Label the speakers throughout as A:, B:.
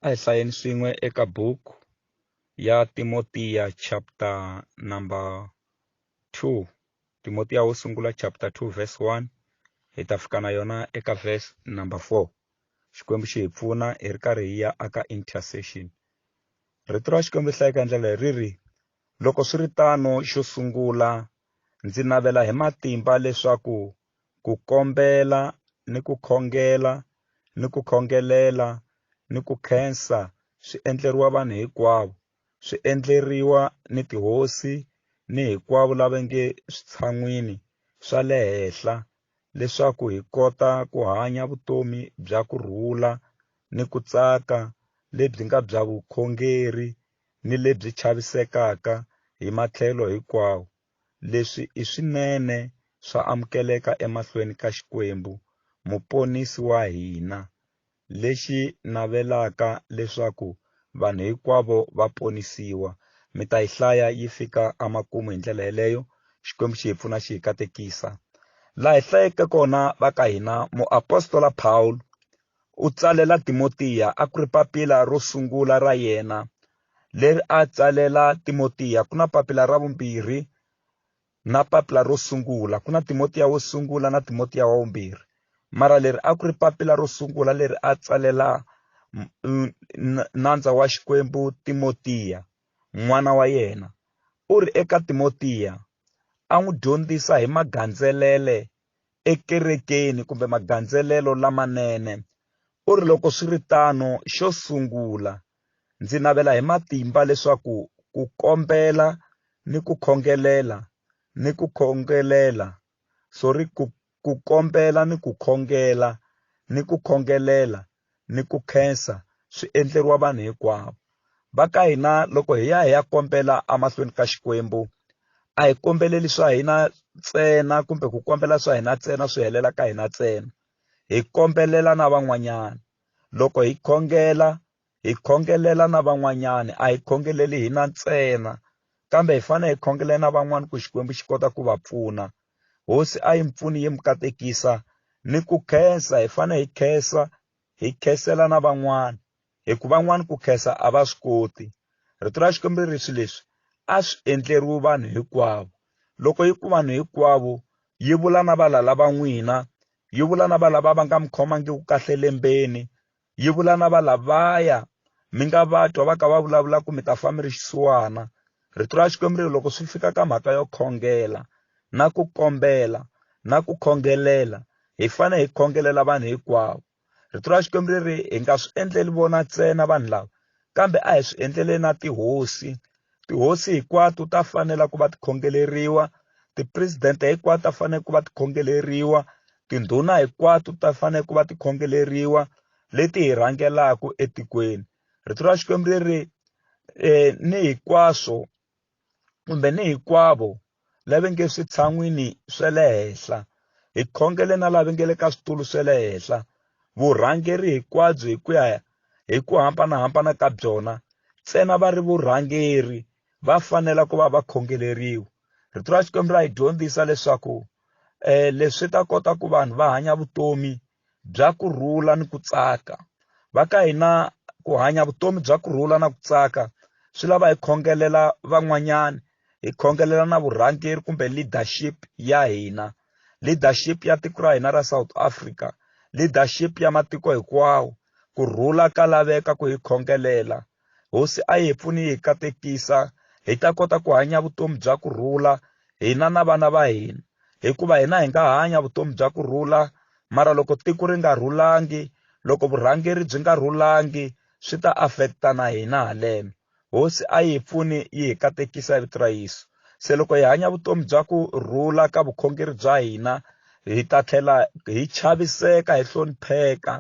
A: A hi hlayeni swin'we eka buku ya Timotiya chapter number 2 Timotiya wo sungula chapter 2 verse 1 hi ta fika na yona eka verse number 4 xikwembu xi hi pfuna hi ri karhi hi ya aka intercession rito ra xikwembu hlaya eka ndlela leri ri loko swi ri tano xo sungula ndzi navela hi matimba leswaku ku kombela ni ku khongela ni ku khongelela ni ku khensa swi endleriwa vanhu hinkwavo swi endleriwa ni tihosi ni hinkwavo lava nge switshan'wini swa le henhla leswaku hi kota ku hanya vutomi bya ku rhula ni ku tsaka lebyi nga bya vukhongeri ni lebyi chavisekaka hi matlhelo hinkwawo leswi i swinene swa amukeleka emahlweni ka Xikwembu, Muponisi wa hina, lexi navelaka leswaku vanhu hinkwavo va ponisiwa. Mi ta yi hlaya yi fika emakumu hi ndlela yeleyo. Xikwembu xi hi pfuna xi hi katekisa. Laha hi hlayeke kona va ka hina, muapostola Pawulo u tsalela Timotiya a ku ri papila ro sungula ra yena leri a tsalela Timotiya ku na papila ra vumbirhi na papila ro sungula ku na Timotiya wo sungula na Timotiya wa vumbirhi mara leri a ku ri papila ro sungula leri a tsalela nandza wa Xikwembu Timotiya n'wana wa yena u ri eka Timotiya a n'wi dyondzisa hi magandzelele ekerekeni kumbe magandzelelo lamanene u ri loko swi ri tano xo sungula Ndzi navela hi matimba leswaku ku kombela ni ku khongelela ni ku khongelela sorry ku ku kombela ni ku khongela ni ku khongelela ni ku khensa swi endleriwa vanhu hinkwavo va ka hina loko hi ya hi ya kombela emahlweni ka Xikwembu a hi kombeleli swa hina ntsena kumbe ku kombela swa hina ntsena swi helela ka hina ntsena hi kombelela na van'wanyana loko hi khongela hi khongelela na van'wanyana a hi khongeleli hi na ntsena kambe hi fanele hi khongelela na van'wana ku xikwembu xi kota ku va pfuna hosi a yi mpfuni yi mi katekisa ni ku khensa hi fanele hi khensa hi khensela na van'wana hikuva van'wana ku khensa a va swi koti rito ra xikwembu ri swi leswi a swi endleriwi vanhu hinkwavo loko yi ku vanhu hinkwavo yi vula na valala va n'wina yi vula na valava va nga mi khomangiki kahle lembeni yi vula na valavaya mi nga va twa va ka va vulavula ku mi ta fa mi ri xisiwana rito ra xikwembu leri loko swi fika ka mhaka yo khongela na ku kombela na ku khongelela hi fane hi khongelela vanhu hikwavo rito ra xikwembu leri hi nga swi endleli vona ntsena vanhu lava kambe a hi swi endlele na tihosi tihosi hinkwato ta fanela ku va tikhongeleriwa tipresidente hinkwato ta fanele ku va tikhongeleriwa tindhuna hinkwato ta fanele ku va tikhongeleriwa leti hi rhangelaka etikweni rito ra xikwembu leri um ni hinkwaswo kumbe ni hikwavo lava nge switshan'wini swa le henhla hi khongele na lava nge le ka switulu swa le henhla vurhangeri hinkwabyo hi ku ya hi ku hambanahambana ka byona ntsena va ri vurhangeri va fanela ku va va khongeleriwa rito ra xikwembu ra hi dyondzisa leswaku um leswi ta kota ku vanhu va hanya vutomi bya ku rhula ni ku tsaka va ka hina ku hanya vutomi bya ku rhula na ku tsaka swi lava hi khongelela van'wanyana hi khongelela na vurhangeri kumbe leadership ya hina leadership ya tiko ra hina ra south africa leadership ya matiko hinkwawo ku rhula ka laveka ku hi khongelela Hosi a yi hi pfuni yi hi katekisa hi ta kota ku hanya vutomi bya ku rhula hina na vana va hina hikuva hina hi nga hanya vutomi bya ku rhula mara loko tiko ri nga rhulangi loko vurhangeri byi nga rhulangi swi ta affecta na hina haleno hosi a yi hi pfuni yi hi katekisa hi vito ra yesu se loko hi hanya vutomi bya ku rhula ka vukhongeri bya hina hi ta tlhela hi chaviseka hi hlonipheka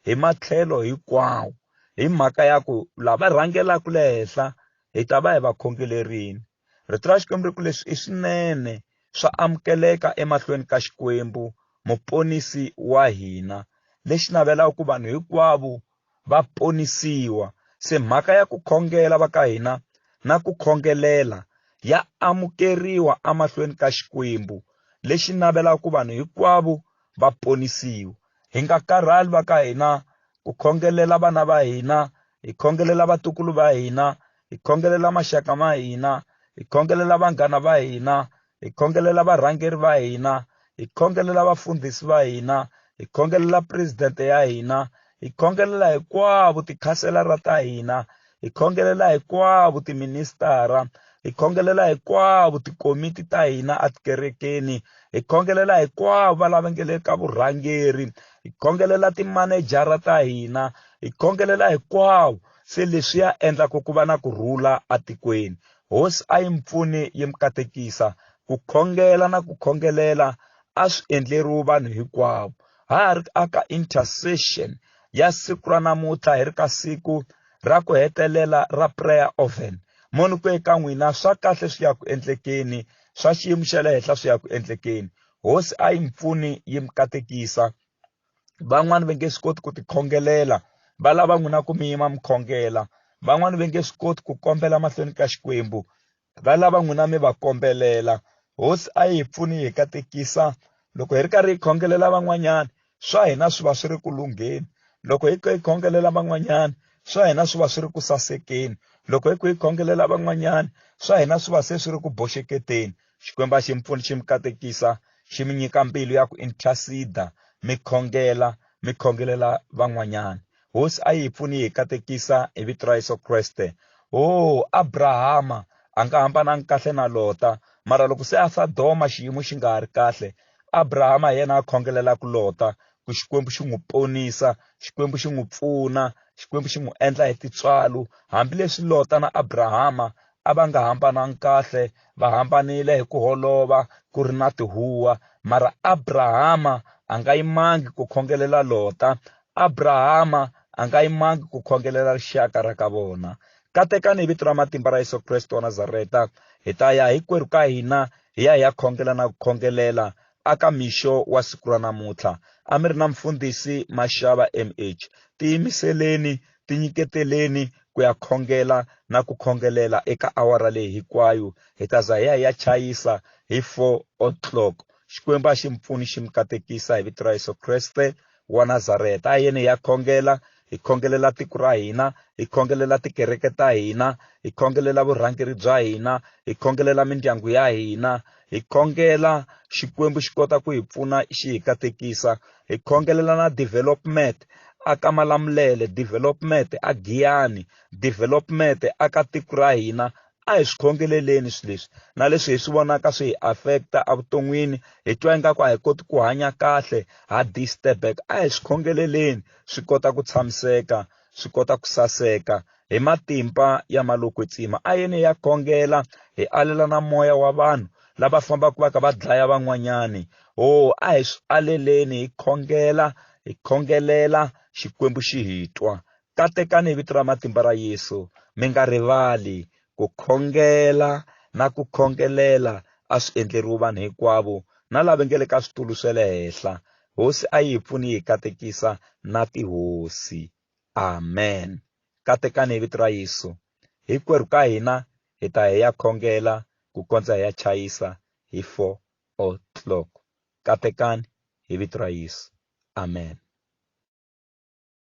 A: hi matlhelo hinkwawo hi mhaka ya ku lava rhangelaka le henhla hi ta va hi va khongelerini rito ra xikwembu ri ku leswi i swinene swa amukeleka emahlweni ka xikwembu muponisi wa hina lexi navelaka ku vanhu hinkwavo va ponisiwa se mhaka ya ku khongela va ka hina na ku khongelela ya amukeriwa emahlweni ka xikwembu lexi navelaka ku vanhu hinkwavo va ponisiwa hi nga karhali va ka hina ku khongelela vana va hina hi khongelela vatukulu va hina hi khongelela maxaka ma hina hi khongelela vanghana va hina hi khongelela varhangeri va hina hi khongelela vafundhisi va hina hi khongelela presidente ya hina hi khongelela hinkwavo tikhanselara ta hina hi khongelela hinkwavo tiministara hi khongelela hinkwavo tikomiti ta hina etikerekeni hi khongelela hinkwavo va lava nge le ka vurhangeri hi khongelela timanejara ta hina hi khongelela hinkwavo se leswi ya endlaka ku va na ku rhula etikweni hosi a yi mi pfuni yi mi katekisa ku khongela na ku khongelela a swi endleriwi vanhu hinkwavo ha ha ri aka intercession ya siku ra namuntlha hi ri ka siku ra ku hetelela ra prayer oven moni ku eka n'wina swa kahle swi ya ku endlekeni swa xiyimo xa le henhla swi ya ku endlekeni hosi a yi mi pfuni yi mi katekisa van'wani va nge swi koti ku tikhongelela va lava n'wina ku mi yima mi khongela van'wani va nge swi koti ku kombela mahlweni ka xikwembu va lava n'wina mi va kombelela hosi a yi hi pfuni hi katekisa loko hi ri karhi hi khongelela van'wanyana swa hina swi va swi ri ku lungheni loko hi hi khongelela van'wanyana swa hina swi va swi ri ku sasekeni loko hi ku hi khongelela van'wanyana swa hina swi va se swi ri ku boxeketeni xikwembu a xi mi pfuni xi mi katekisa xi mi nyika mbilu ya ku interceda mi khongela mi khongelela van'wanyana hosi a yi pfuni yi katekisa hi vito ra yesu kreste o oh, abrahama a nga hambanangi kahle na lota mara loko se a sadoma xiyimo xi nga ha ri kahle abrahama hi yena a khongelelaka lota ku xikwembu xi n'wi ponisa xikwembu xi n'wi pfuna xikwembu xi n'wi endla hi titswalo hambileswi lota na abrahama a va nga hambanangi kahle va hambanile hi ku holova ku ri na tihuwa mara abrahama a nga yimangi ku khongelela lota abrahama a nga yimangi ku khongelela rixaka ra ka vona katekani hi vito ra matimba ra yesu kreste wa nazareta hi ta ya hinkwerhu ka hina hi ya hi ya khongela na ku khongelela aka mixo wa siku ra namuntlha a mi ri na mfundhisi maxava mh tiyimiseleni tinyiketeleni ku ya khongela na ku khongelela eka awara leyi hinkwayo hi ta za hi ya ya chayisa hi 4 o'clock xikwembu a xi mpfuni xi mi katekisa hi vito ra yesu kreste wa nazareta a yeni ya khongela hi khongelela tiko ra hina hi khongelela tikereke ta hina hi khongelela vurhangeri bya hina hi khongelela mindyangu ya hina hi khongela xikwembu xi kota ku hi pfuna xi hi katekisa hi khongelela na development aka malamulele development a giyani development aka tiko ra hina a hi swi khongeleleni swi leswi na leswi hi swi vonaka swi hi affecta evuton'wini hi twa ingaku a hi koti ku hanya kahle ha disturback a hi swi khongeleleni swi kota ku tshamiseka swi kota ku saseka hi matimba ya malokwetsima a yene ya khongela hi alela na moya wa vanhu lava fambaka va ka va dlaya van'wanyani o oh, a hi swi aleleni hi khongela hi khongelela xikwembu xi hi twa katekani hi vito ra matimba ra yesu mi nga rivali ku khongela na ku khongelela a swi endleriwi vanhu hinkwavo na lava nge le ka switulu swe le henhla Hosi a yi pfuni yi katekisa na tihosi. Amen. Katekani hi vito ra Yesu. Hinkwerhu ka hina hi ta hi ya khongela ku kondza hi ya chayisa hi 4 o'clock. Katekani hi vito ra Yesu. Amen.